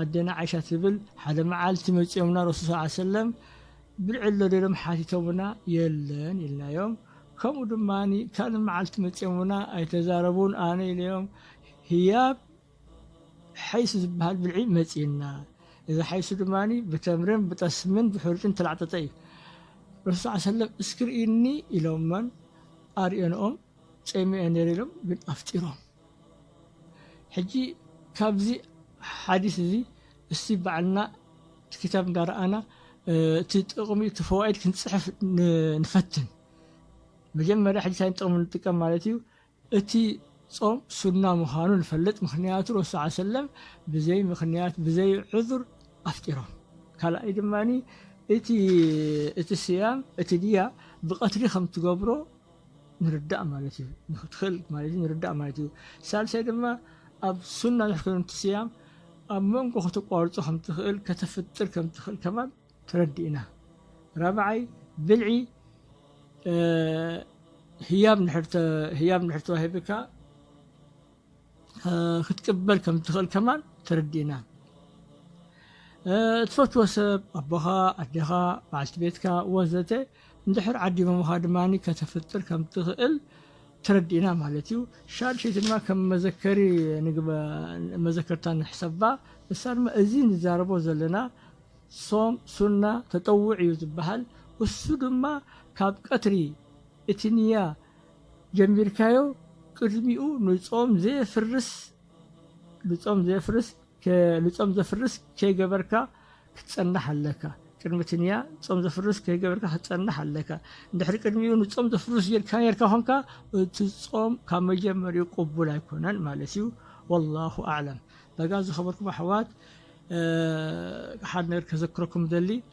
ኣደና ዓይሻ ትብል ሓደ መዓልቲ መጺኦም ናብ ረሱል ሰለላሁ ዓለይሂ ወሰለም ብልዒ ኣሎ ዶ ኢሎም ሓቲቶምና የለን ኢልናዮም ከምኡ ድማ ካልእ መዓልቲ መጺኦምና ኣይተዛረቡን ኣነ ኢለዮም ህያብ ሓይሱ ዝበሃል ብልዒ መጺኡና እዚ ሓይሱ ድማ ብተምርን ብጠስምን ብሕሩጭን እተላዕጠጠ እዩ ረሱል ሰለላሁ ዓለይሂ ወሰለም እስኪ ርእይኒ ኢሎመን ኣርእየንኦም ጸሚኤ ነይረ ኢሎም ግን ኣፍጢሮም ሕጂ ካብዚ ሓዲስ እዚ እስቲ ባዕልና እቲ ክታብ እንዳረኣና እቲ ጥቕሚ እቲ ፈዋኢድ ክንጽሕፍ ንፈትን። መጀመርያ ሕጂ ታይ ጥቕሚ ንጥቀም ማለት እዩ እቲ ጾም ሱና ምዃኑ ንፈልጥ ምኽንያቱ ረሱል ዓ ሰለም ብዘይ ምኽንያት ብዘይ ዑዙር ኣፍጢሮም። ካልኣይ ድማ እቲ እቲ ስያም እቲ ድያ ብቐትሪ ከምትገብሮ ምርዳእ ማለት እዩ ንክትክእል ማለት እዩ ምርዳእ ማለት እዩ ሳልሳይ ድማ ኣብ ሱና ንሕክም ትስያም ኣብ መንጎ ከተቋርጾ ከም ትኽእል ከተፍጥር ከም ትኽእል ከማን ተረዲእና ራብዓይ ብልዒ ህያብ ንሕር ህያብ ንሕር ተዋሂብካ ክትቅበል ከም እትኽእል ከማን ተረዲእና። እትፈትዎ ሰብ ኣቦኻ፣ ኣዴኻ፣ በዓልቲ ቤትካ ወዘተ እንድሕር ዓዲሞምኻ ድማ ከተፍጥር ከም እትኽእል ተረዲእና ማለት እዩ። ሻድሸይቲ ድማ ከም መዘከሪ መዘከርታ ንሕሰባ። ንሳ ድማ እዚ ንዛረቦ ዘለና ሶም ሱና ተጠውዕ እዩ ዝበሃል። እሱ ድማ ካብ ቀትሪ እቲ ንያ ጀሚርካዮ ቅድሚኡ ንጾም ዘየፍርስ ንጾም ዘየፍርስ ንጾም ዘፍርስ ከይገበርካ ክትጸንሕ ኣለካ ቅድሚ እቲ ንያ ጾም ዘፍርስ ከይገበርካ ክትጸንሕ ኣለካ እንድሕሪ ቅድሚኡ ንጾም ዘፍርስ ጌርካ ኔርካ ኾንካ እቲ ጾም ካብ መጀመሪኡ ቅቡል ኣይኮነን ማለት እዩ ወላሁ ኣዕለም ዳጋ ዝኸበርኩም ኣሕዋት ሓደ ነገር ከዘክረኩም ደሊ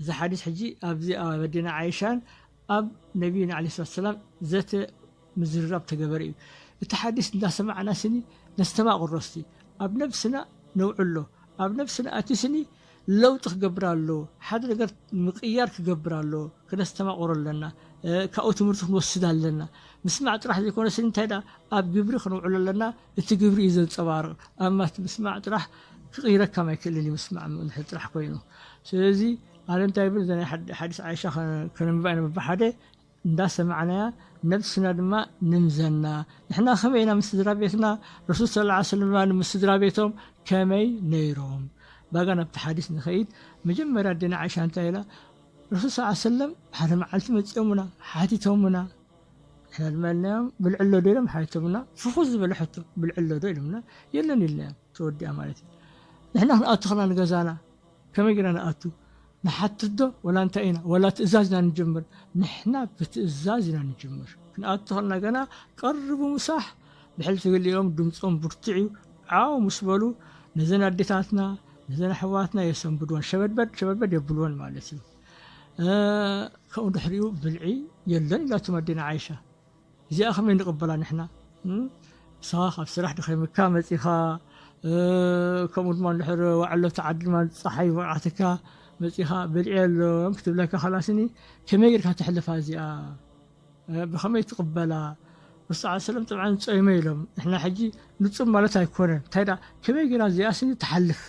እዚ ሓዲስ ሕጂ ኣብዚ ኣብ ኣዴና ዓይሻን ኣብ ነብይና ዓለይሂ ሰላቱ ወሰላም ዘተ ምዝርራብ ተገበረ እዩ። እቲ ሓዲስ እንዳሰማዕና ስኒ ነስተማቕሮ እስቲ ኣብ ነብስና ነውዕሎ ኣብ ነብስና ኣቲ ስኒ ለውጢ ክገብር ኣለዎ ሓደ ነገር ምቅያር ክገብር ኣለዎ ክነስተማቕሮ ኣለና ካብኡ ትምህርቲ ክንወስድ ኣለና ምስማዕ ጥራሕ ዘይኮነ ስኒ እንታይ ደኣ ኣብ ግብሪ ክንውዕሎ ኣለና እቲ ግብሪ እዩ ዘንጸባርቕ። ኣብ ማት ምስማዕ ጥራሕ ክቕይረካ ማይክእልን እዩ ምስማዕ እንድሕር ጥራሕ ኮይኑ። ስለዚ ኣነ እንታይ ይብል እዛ ናይ ሓዲስ ዓይሻ ከነንብባ ኢና በብሓደ እንዳ ሰማዕናያ ነብስና ድማ ንምዘና። ንሕና ከመይ ኢና ምስ ስድራቤትና ረሱል ሰለላሁ ዐለይሂ ወሰለም ድማ ምስ ስድራቤቶም ከመይ ነይሮም። ባጋ ናብቲ ሓዲስ ንኸይድ መጀመርያ ኣዴና ዓይሻ እንታይ ኢላ ረሱል ሰለላሁ ዐለይሂ ወሰለም ሓደ መዓልቲ መጺኦሙና ሓቲቶሙና። ሕልመልናዮም ብልዕሎ ዶ ኢሎም ሓይቶምና ፍኹስ ዝበለ ሕቶ ብልዕሎ ዶ ኢሎምና የለን ኢልናዮም ተወዲኣ ማለት እዩ ንሕና ክንኣቱ ከለና ንገዛና ከመይ ጌና ንኣቱ ንሓትት ዶ ወላ እንታይ ኢና ወላ ትእዛዝ ኢና ንጅምር ንሕና ብትእዛዝ ኢና ንጅምር ክንኣቱ ከለና ገና ቀርቡ ምሳሕ ብሕልፊ ገሊኦም ድምፆም ብርቱዕ እዩ ዓው ምስ በሉ ነዘን ኣዴታትና ነዘን ኣሕዋትና የሰንብድወን ሸበድበድ ሸበድበድ የብልወን ማለት እዩ ካብኡ ድሕሪኡ ብልዒ የለን ኢላቶም ኣዴና ዓይሻ እዚኣ ከመይ ንቕበላ ንሕና ንስኻ ካብ ስራሕ ድኸምካ መፂኻ ከምኡ ድማ ድሕር ዋዕሎ ተዓዲ ድማ ፀሓይ ወቕዓትካ መፂኻ ብልዒ ኣሎም ክትብለካ ከላስኒ ከመይ ጌርካ ተሕልፋ እዚኣ ብኸመይ ትቕበላ ምስ ሰዓት ሰለም ጥብዓን ጾይመ ኢሎም ንሕና ሕጂ ንጹም ማለት ኣይኮነን እንታይ ደኣ ከመይ ጌራ እዚኣ ስኒ ትሓልፍ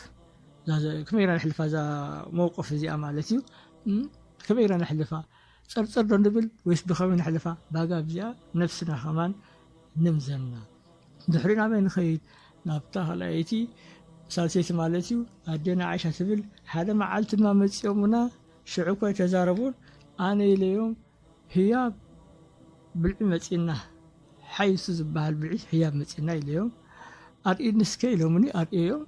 ከመይ ኢልና ነሕልፋ እዛ መውቅፍ እዚኣ ማለት እዩ ከመይ ኢልና ነሕልፋ ፀርፀር ዶ ንብል ወይስ ብከመይ ነሕልፋ ባጋ ኣብዚኣ ነብስና ከማን ንምዘና ድሕሪ ናበይ ንኸይድ ናብታ ካልኣይቲ ሳልሰይቲ ማለት እዩ ኣዴና ዓይሻ ትብል ሓደ መዓልቲ ድማ መፂኦሙና ሽዑ እኮ ተዛረቡን ኣነ ኢለዮም ህያብ ብልዒ መፂና ሓይሱ ዝበሃል ብልዒ ህያብ መፂና ኢለዮም ኣርእኒ እስከ ኢሎምኒ ኣርእየዮም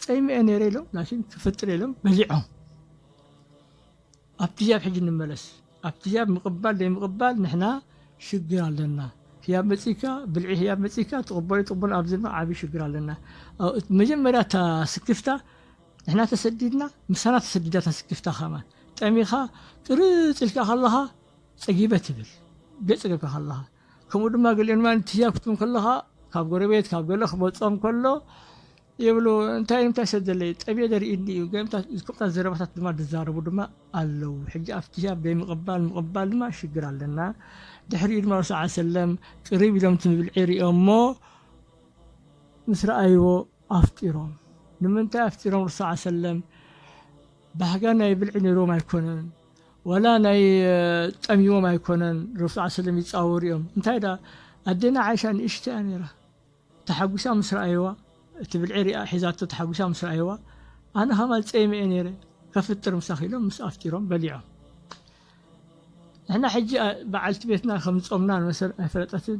ጸይመ ነይረ ኢሎም ላኪን ክፍጥር ኢሎም በሊዖም ኣብቲ ህያብ ሕጂ ንመለስ ኣብቲ ህያብ ምቕባል ዘይምቕባል ንሕና ሽግር ኣለና ህያብ መጺካ ብልዒ ህያብ መጺካ ትቕበሎ ትቕበሎ ኣብዚ ድማ ዓብዪ ሽግር ኣለና መጀመርያ እታ ስክፍታ ንሕና ተሰዲድና ምሳና ተሰዲዳ እታ ስክፍታ ከማን ጠሚኻ ቅርፅ ኢልካ ከለኻ ፀጊበ ትብል ገፅ ገብካ ከለኻ ከምኡ ድማ ገሊኦም ድማ ንትህያብ ክትብል ከለኻ ካብ ጎረቤት ካብ ገለ ክመጾም ከሎ ይብሉ እንታይ እንታይ ሰብ ዘለዩ ጠብየ ደርእኒ እዩ ገምታት ዝቅብታት ዘረባታት ድማ ዝዛረቡ ድማ ኣለዉ ሕጂ ኣብቲ ሂያብ ዘይምቕባል ምቕባል ድማ ሽግር ኣለና ድሕሪኡ ድማ ረሱ ዓ ሰለም ቅሪብ ኢሎም እቲ ምብልዒ ሪኦሞ ምስ ረኣይዎ ኣፍጢሮም ንምንታይ ኣፍጢሮም ረሱ ዓ ሰለም ባህጋ ናይ ብልዒ ነይሮም ኣይኮነን ወላ ናይ ጠምዩዎም ኣይኮነን ረሱል ስለም ይጻወሩ እዮም እንታይ ድኣ ኣዴና ዓይሻ ንእሽቶ እያ ነይራ ተሓጒሳ ምስ ረኣዩዋ እቲ ብልዒ ሪኣ ሒዛቶ ተሓጒሳ ምስ ረኣዩዋ ኣነ ከማን ጸይመ እየ ነይረ ከፍጥር ምሳኺ ኢሎም ምስ ኣፍጢሮም በሊዖም ንሕና ሕጂ በዓልቲ ቤትና ከም ዝጾምና ንመሰል ኣይፈለጠትን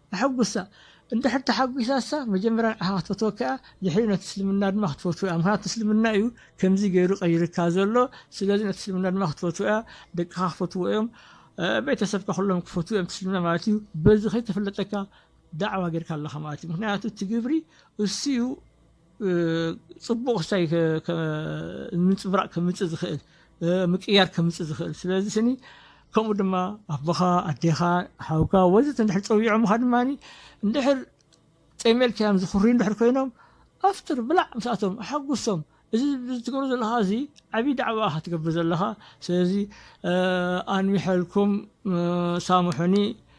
ኣሐጉሳ እንድሕር ተሓጒሳሳ መጀመርያ ንዓኻ ክትፈትወካ እያ ድሕሪኡ ነቲ እስልምና ድማ ክትፈትዎ እያ ምኽንያቱ እስልምና እዩ ከምዚ ገይሩ ቀይርካ ዘሎ ስለዚ ነቲ እስልምና ድማ ክትፈትዎ እያ ደቅኻ ክፈትዎ እዮም ቤተሰብካ ኩሎም ክፈትዎ እዮም እስልምና ማለት እዩ በዚ ከይተፈለጠካ ዳዕዋ ጌርካ ኣለኻ ማለት እዩ ምኽንያቱ እቲ ግብሪ እሱ እዩ ፅቡቕ ክሳይ ምንፅብራቕ ከምፅእ ዝኽእል ምቅያር ከምፅእ ዝኽእል ስለዚ ስኒ ከምኡ ድማ ኣቦኻ ኣዴኻ ሓውካ ወዘተ እንድሕር ፀዊዖምኻ ድማ እንድሕር ፀይመልክያም ዝኽርዩ እንድሕር ኮይኖም ኣፍጥር ብላዕ ምስኣቶም ኣሓጉሶም እዚ ዝትገብሮ ዘለኻ እዚ ዓብዪ ዳዕዋ ኢኻ ትገብር ዘለኻ ስለዚ ኣንሚሐልኩም ሳምሑኒ